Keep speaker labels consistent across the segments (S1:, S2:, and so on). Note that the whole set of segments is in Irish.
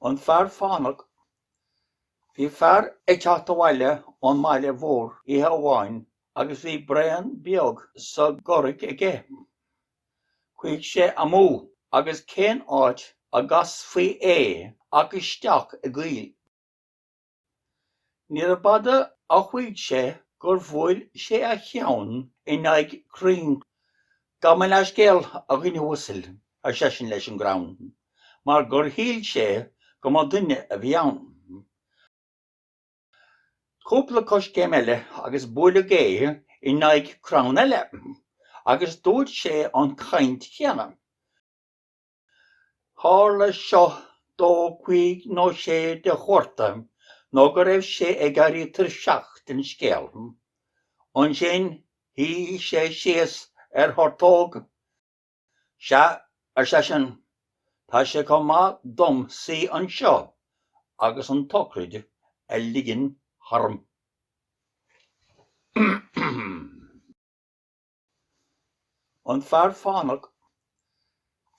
S1: An Fear Fánach Bhí fear ag teacht abhaile ón mbaile mhór oíche amháin agus bhí braon beag sa gcorraic aige. Chuaigh sé amú agus cén áit a gcasfaí é ach isteach i gcoill. Níorbh fhada a chuaigh sé gur bhuail sé a cheann in aghaidh crainn. Gabh mo leathscéal, a dhuine uasail, ar seisean leis an gcrann, mar gur shíl sé go mba duine a bhí ann. Cúpla coiscéim eile agus buaileadh é in aghaidh crann eile, agus dúirt sé an chaint chéanna. Tharla seo dó cuig nó sé de chuarta nó go raibh sé ag éirí tuirseach den scéal. Ansin shuigh sé síos ar thortóg. Sea, ar seisean, tá sé chomh maith dom suí anseo agus an tsocraid a ligean tharm. An Fear Fánach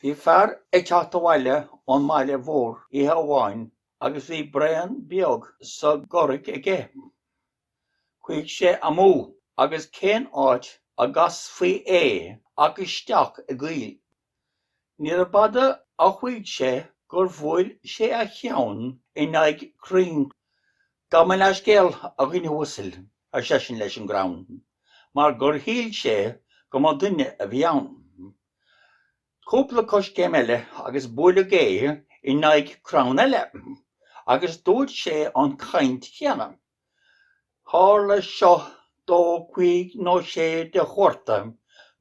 S1: Bhí fear ag teacht abhaile ón mbaile mhór oíche amháin agus bhí braon beag sa gcorraic aige. Chuaigh sé amú agus cén áit a gcasfaí é ach isteach i gcoill. Níorbh fhada a chuaigh sé gur bhuail sé a cheann in aghaidh crainn. Gabh mo leathscéal, a dhuine uasail, ar seisean leis an gcrann, mar gur shíl sé go mba duine a bhí ann. Cúpla coiscéim eile agus buaileadh é in aghaidh crann eile, agus dúirt sé an chaint chéanna. Tharla seo dó cuig nó sé de chuarta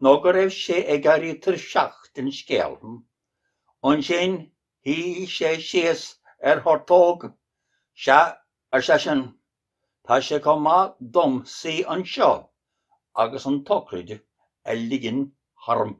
S1: nó go raibh sé ag éirí tuirseach den scéal. Ansin shuigh sé síos ar thortóg. Sea, ar seisean, tá sé chomh maith dom suí anseo agus an tsocraid a ligean tharm.